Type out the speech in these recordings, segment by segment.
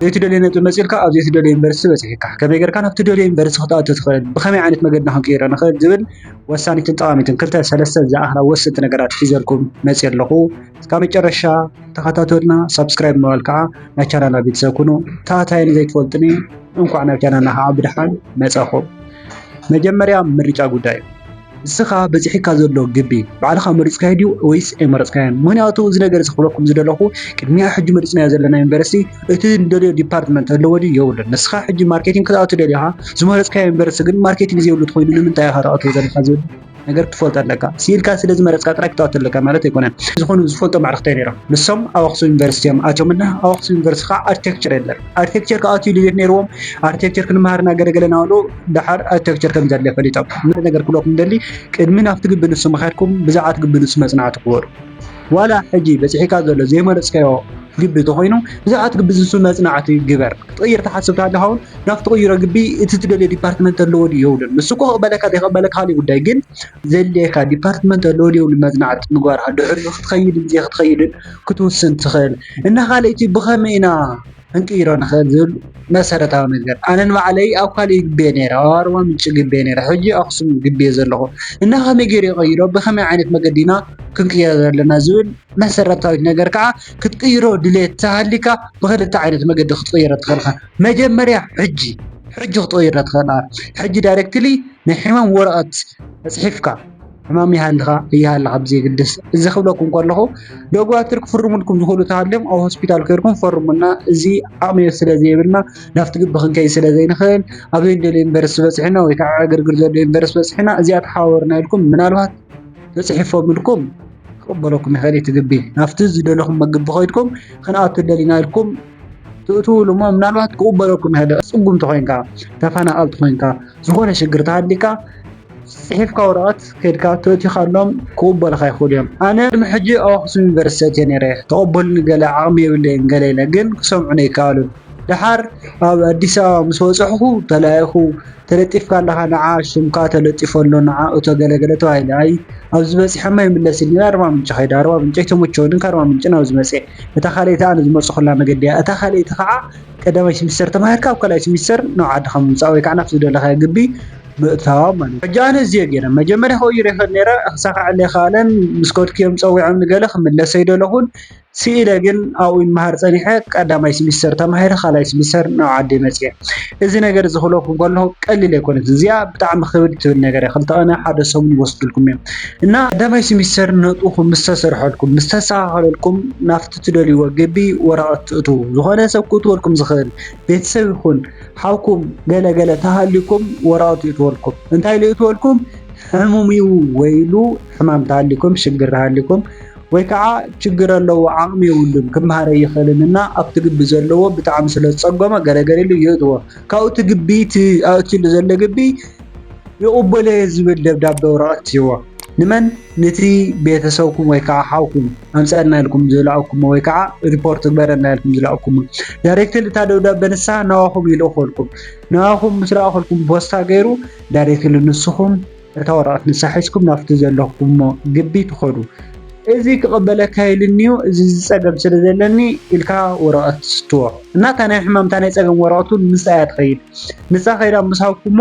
ዘይትደልዮ ነጥቢ መጺእልካ ኣብ ዘይትደልዮ ዩኒቨርሲቲ በጺሒካ። ከመይ ጌርካ ናብ ትደልዮ ዩኒቨርሲቲ ክትኣቱ ትኽእል፣ ብኸመይ ዓይነት መገድና ክንቅይሮ ንኽእል ዝብል ወሳኒትን ጠቓሚትን ክልተ ሰለስተ ዝኣኽላ ወሰንቲ ነገራት ሒዘልኩም መጺኤ ኣለኹ። እስካብ መጨረሻ ተኸታተሉና፣ ሳብስክራይብ ብምባል ከኣ ናይ ቻናልና ቤተሰብ ኩኑ። እታ ታይ ንዘይትፈልጡኒ እንኳዕ ናብ ቻናልና ከኣ ብደሓን መጻኹም። መጀመርያ ምርጫ ጉዳይ እዩ። ንስኻ በጺሒካ ዘሎ ግቢ ባዕልኻ መሪጽካዮ ድዩ ወይስ ኣይመረጽካዮን? ምክንያቱ እዚ ነገር እዚ ክብለኩም ዝደለኹ ቅድሚያ ሕጂ መሪጽናዮ ዘለና ዩኒቨርሲቲ እቲ ንደልዮ ዲፓርትመንት ኣለዎ ድዩ የብሉን። ንስኻ ሕጂ ማርኬቲንግ ክትኣቱ ደሊኻ ዝመረጽካዮ ዩኒቨርሲቲ ግን ማርኬቲንግ ዘይብሉ እንተኾይኑ ንምንታይ ኢኻ ተኣትዎ ዘለኻ ዝብል ነገር ክትፈልጦ ኣለካ። ስኢልካ ስለ ዝመረጽካ ጥራይ ክትኣቱ ኣለካ ማለት ኣይኮነን። ዝኾኑ ዝፈልጦም ኣዕርኽተይ ነይሮም። ንሶም ኣብ ኣኽሱም ዩኒቨርሲቲ እዮም ኣትዮምና። ኣብ ኣኽሱም ዩኒቨርሲቲ ከዓ ኣርክቴክቸር የለን። ኣርክቴክቸር ክኣትዩ ድሌት ነይርዎም። ኣርክቴክቸር ክንመሃር እና ገለ ገለ እናበሉ ደሓር ኣርክቴክቸር ከም ዘድሊ ፈሊጦም። ንኹሉ ነገር ክብለኩም ዝደሊ ቅድሚ ናብቲ ግቢ ንሱ ምኻድኩም ብዛዕት ግቢ ንሱ መጽናዕቲ ግበሩ። ዋላ ሕጂ በጺሒካ ዘሎ ዘይመረጽካዮ ግቢ ተኾይኑ ብዛዕት ግቢ ንሱ መጽናዕቲ ግበር። ክትቕይር ትሓስብ ተሃሊኻ ውን ናብ ትቕይሮ ግቢ እቲ ትደልዮ ዲፓርትመንት ኣለዎ ድዩ የብሉን ንሱ እኮ ክቕበለካ ዘይክቕበለካ ካሊእ ጉዳይ ግን ዘድልየካ ዲፓርትመንት ኣለዎ ድዩ የብሉን መጽናዕቲ ምግባርካ ድሕሪኡ ክትኸይድን ዘይክትኸይድን ክትውስን ትኽእል። እና ካልኣይቲ ብኸመይ ኢና ክንቅይሮ ንክእል ዝብል መሰረታዊ ነገር ኣነ ንባዕለይ ኣብ ካልእ ይግበየ ነይረ ኣብ ኣርባ ምንጭ ይግበየ ነይረ ሕጂ ኣክሱም ይግበየ ዘለኹ እና ከመይ ገይረ ይቀይሮ ብከመይ ዓይነት መገዲ ኢና ክንቅይሮ ዘለና ዝብል መሰረታዊት ነገር ከዓ ክትቅይሮ ድሌት ተሃሊካ ብክልተ ዓይነት መገዲ ክትቅይሮ ትኽእል ኢኻ መጀመርያ ሕጂ ሕጂ ክትቅይሮ ትኽእል ሕጂ ዳይሬክትሊ ናይ ሕማም ወረቀት ተፅሒፍካ ሕማም ይሃልኻ እይሃልኻ ብዘይግድስ እዚ ክብለኩም ከለኹ ደጓትር ክፍርሙልኩም ዝኽእሉ ተሃልዮም ኣብ ሆስፒታል ከይርኩም ፈርሙና እዚ ዓቕሚ ስለዘይብልና ናብቲ ግቢ ክንከይድ ስለዘይንኽእል ኣብ ዘይንደልዮ ዩኒቨርሲቲ በፂሕና ወይ ከዓ ዕግርግር ዘሎ ዩኒቨርሲቲ በፂሕና እዚኣ ተሓባበሩና ኢልኩም ምናልባት ተፅሒፎምልኩም ክቕበለኩም ይኽእል እቲ ግቢ ናብቲ ዝደለኹም መግቢ ኮይድኩም ክንኣቱ ደሊና ኢልኩም ትእትውሉ እሞ ምናልባት ክቕበለኩም ይኽእል ፅጉምቲ ኮይንካ ተፈናቐልቲ ኮይንካ ዝኾነ ሽግር ተሃሊካ ጽሒፍካ ወረቀት ከድካ ተእቲካሎም ክቅበሉካ ይክእሉ እዮም ኣነ ቅድሚ ሕጂ ኣብ ኣክሱም ዩኒቨርሲቲ ኣትየ ነይረ ተቀበሉኒ ገለ ዓቅሚ የብለይን ገለ ኢለ ግን ክሰምዑኒ ኣይከኣሉን ደሓር ኣብ ኣዲስ ኣበባ ምስ በጸሕኩ ተላኢኩ ተለጢፍካ ኣለካ ንዓ ሽምካ ተለጢፉ ኣሎ ንዓ እቶ ገለ ገለ ተባሂለ ኣይ ኣብዚ በጺሐማ ይምለስ ኢልኒ ኣርባ ምንጭ ከይደ ኣርባ ምንጭ ኣይተመቸወንን ካብ ኣርባ ምንጭ ናብዚ መጸ እታ ካልኣይቲ ኣነ ዝመጸኩላ መገዲ እያ እታ ካልኣይቲ ከኣ ቀዳማይ ስሚስተር ተማሂርካ ኣብ ካልኣይ ስሚስተር ናብ ዓድካ ምምጻእ ወይ ከኣ ናብቲ ዝደለካዮ ግቢ ምእታዋ ማለት እዩ። ሕጂ ኣነ እዚ እየ ገይረ መጀመርያ ከኡ ይሪኤክን ነይረ ክሳካዐለይ ኣይካኣለን ምስ ከድኩዮም ጸዊዖም ንገለ ክምለስ ኣይደለኩን ሲኢለ ግን ኣብኡ ይማሃር ጸኒሐ ቀዳማይ ሲሚስተር ተማሂረ ካልኣይ ሲሚስተር ናብ ዓደይ መጽየ እዚ ነገር እዚ ክብለኩም ከለኩ ቀሊል ኣይኮነትን እዚኣ ብጣዕሚ ክብድ ትብል ነገር እያ ክልተ ቅነ ሓደ ሰሙን ይወስድልኩም እዮም እና ቀዳማይ ሲሚስተር ነጥብኩም ምስ ተሰርሐልኩም ምስ ተስተካከለልኩም ናብቲ ትደልይዎ ግቢ ወረቀት ትእትዉ ዝኮነ ሰብ ክእትወልኩም ዝክእል ቤተሰብ ይኩን ሓውኩም ገለ ገለ ተሃሊኩም ወራውት ይእትወልኩም እንታይ ልእትወልኩም ሕሙም እዩ ወይ ኢሉ ሕማም ተሃሊኩም ሽግር ተሃሊኩም ወይ ከዓ ችግር ኣለዎ ዓቕሚ የብሉን ክመሃረ ይኽእልን እና ኣብቲ ግቢ ዘለዎ ብጣዕሚ ስለ ዝፀገሞ ገለገለ ኢሉ ይእትዎ ካብኡ እቲ ግቢ እቲ ኣእትዩሉ ዘሎ ግቢ ይቕበሎ ዝብል ደብዳቤ ወረቐት ይህቦ ንመን ንቲ ቤተሰብኩም ወይ ከዓ ሓውኩም ኣምፀኣልና ኢልኩም ዝላኣኩሞ ወይ ከዓ ሪፖርት ግበረልና ኢልኩም ዝላኣኩሞ ዳይሬክትሊ እታ ደብዳበ ንሳ ናባኹም ይልእኸልኩም ናባኹም ምስ ላኣኸልኩም ቦስታ ገይሩ ዳይሬክትሊ ንስኹም እታ ወረቀት ንሳ ሒዝኩም ናብቲ ዘለኩሞ ግቢ ትኸዱ እዚ ክቅበለካ ኢልኒዩ እዚ እዚ ፀገም ስለ ዘለኒ ኢልካ ወረቀት ትስትዎ እና እታ ናይ ሕማም እታ ናይ ፀገም ወረቀት ውን ምስኣ እያ ትኸይድ ንሳ ከይዳ ምስ ሃብኩሞ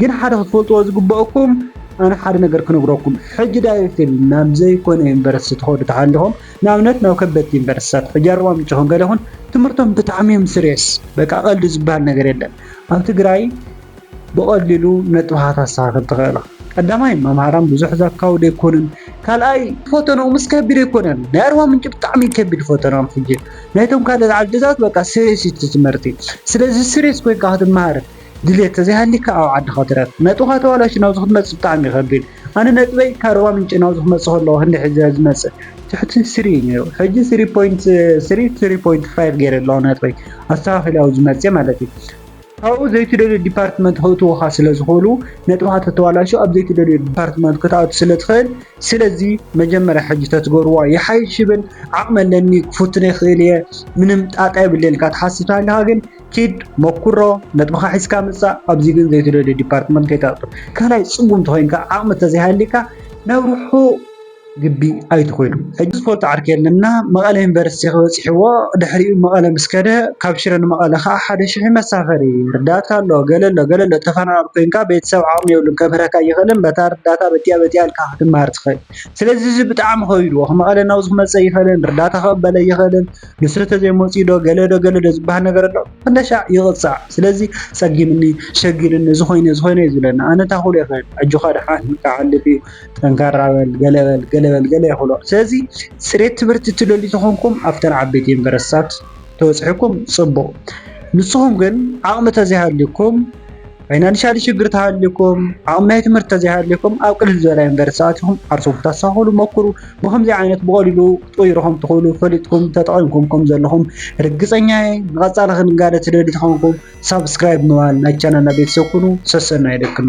ግን ሓደ ክትፈልጥዎ ዝግበኣኩም ኣነ ሓደ ነገር ክነግረኩም ሕጂ ዳይሬክትሊ ናብ ዘይኮነ ዩኒቨርሲቲ ትኸዱ ተሃሊኹም ንኣብነት ናብ ከበድቲ ዩኒቨርሲቲታት ሕጂ ኣርባ ምንጭ ይኹን ገለ ይኹን ትምህርቶም ብጣዕሚ እዮም ስሬስ በቃ ቀልዲ ዝበሃል ነገር የለን ኣብ ትግራይ ብቐሊሉ ነጥብኻ ታስተኻኽል ትኽእል ቀዳማይ መምሃራን ብዙሕ ዘካው ዘይኮኑን ካልኣይ ፈተናኦምስ ከቢድ ኣይኮነን ናይ ኣርባ ምንጭ ብጣዕሚ ከቢድ ፈተናኦም ሕጂ ናይቶም ካልኦት ዓድታት በቃ ስሬስ እዩ ትምህርቲ ስለዚ ስሬስ ኮይንካ ክትመሃር ድልየት ተዘይሃልይካ ኣብ ዓድኻ ትረፍ ነጥብኻ ተባላሽዩ ናብዚ ክትመጽእ ብጣዕሚ ይኸቢድ ኣነ ነጥበይ ካብ ሩባ ምንጪ ናብዚ ክመጽእ ከለኹ ክንደይ ሕጂ ዝመጽእ ትሕቲ ስሪ ነይሩ ሕጂ ስሪ ፖይንት ስሪ ስሪ ፖይንት ፋይቭ ገይረ ኣለኹ ነጥበይ ኣስተኻኺለ ኣብዚ መጽየ ማለት እዩ ካብኡ ዘይትደልዮ ዲፓርትመንት ከእትውኻ ስለ ዝኽእሉ ነጥብኻ ተተባላሹ ኣብ ዘይትደልዮ ዲፓርትመንት ክትኣቱ ስለ ትኽእል ስለዚ መጀመርያ ሕጂ ተትገብርዋ ይሓይሽ ይብል ዓቕሚ ኣለኒ ክፍትኖ ይኽእል እየ ምንም ጣጣ የብለይን ኢልካ ትሓስብ ተሃሊኻ ግን ኪድ ሞኩሮ ነጥብኻ ሒዝካ ምጻእ ኣብዚ ግን ዘይትደልዮ ዲፓርትመንት ከይትኣቱ ካልኣይ ጽጉም ተኾይንካ ዓቕሚ ተዘይሃሊካ ናብ ርሑቕ ግቢ ኣይትኹዱ ሕጂ ዝፈልጦ ዓርኪ የለን እና መቐለ ዩኒቨርሲቲ ክበጺሕዎ ድሕሪኡ መቐለ ምስ ከደ ካብ ሽረ ንመቐለ ከኣ ሓደ ሽሕ እዩ መሳፈሪ ርዳታ ኣሎ ገለ ኣሎ ገለ ኣሎ ተፈናቓል ኮይንካ ቤተሰብ ዓቕሚ የብሉን ከምህረካ ኣይኽእልን በታ ርዳታ በቲኣ በቲኣ ኢልካ ክትመሃር ትኽእል ስለዚ እዚ ብጣዕሚ ከቢድዎ መቐለ ናብዚ ክመጽእ ኣይኽእልን ርዳታ ክቕበል ኣይኽእልን ንስሪ ተዘይመጽዩ ዶ ገለ ዶ ገለ ዶ ዝብሃል ነገር ኣሎ ክንደሻዕ ይቕጻዕ ስለዚ ጸጊምኒ ሸጊርኒ እዚ ኮይነ እዚ ኮይነ እዩ ዝብለኒ ኣነ እንታይ ክብሎ ይኽእል ኣጆኻ ድሓን ክሓልፍ እዩ ጠንካራ በል ገለ በል ገለ በል ገለ ይኽእሎ ስለዚ ጽሬት ትምህርቲ ትደልዩ ተኾንኩም ኣብተን ዓበይቲ ዩኒቨርስትታት ተበጽሕኩም ጽቡቕ ንስኹም ግን ዓቕሚ ተዘይሃልዩኩም ፋይናንሻሊ ሽግር ተሃልዩኩም ዓቕሚ ናይ ትምህርቲ ተዘይሃልዩኩም ኣብ ቅልል ዝበለ ዩኒቨርሲቲ ኣቲኹም ዓርሰኹም ክተስተኻኽሉ ሞክሩ። ብኸምዚ ዓይነት ብቐሊሉ ክትቕይሩ ከም ትኽእሉ ፈሊጥኩም ተጠቒምኩም ከም ዘለኹም ርግጸኛ እየ። ንቐጻሊ ክንጋለ ትደልዩ ተኾንኩም ሳብስክራይብ ብምባል ናይ ቻናልና ቤተሰብ ኩኑ። ሰሰናዩ ደቅኖ።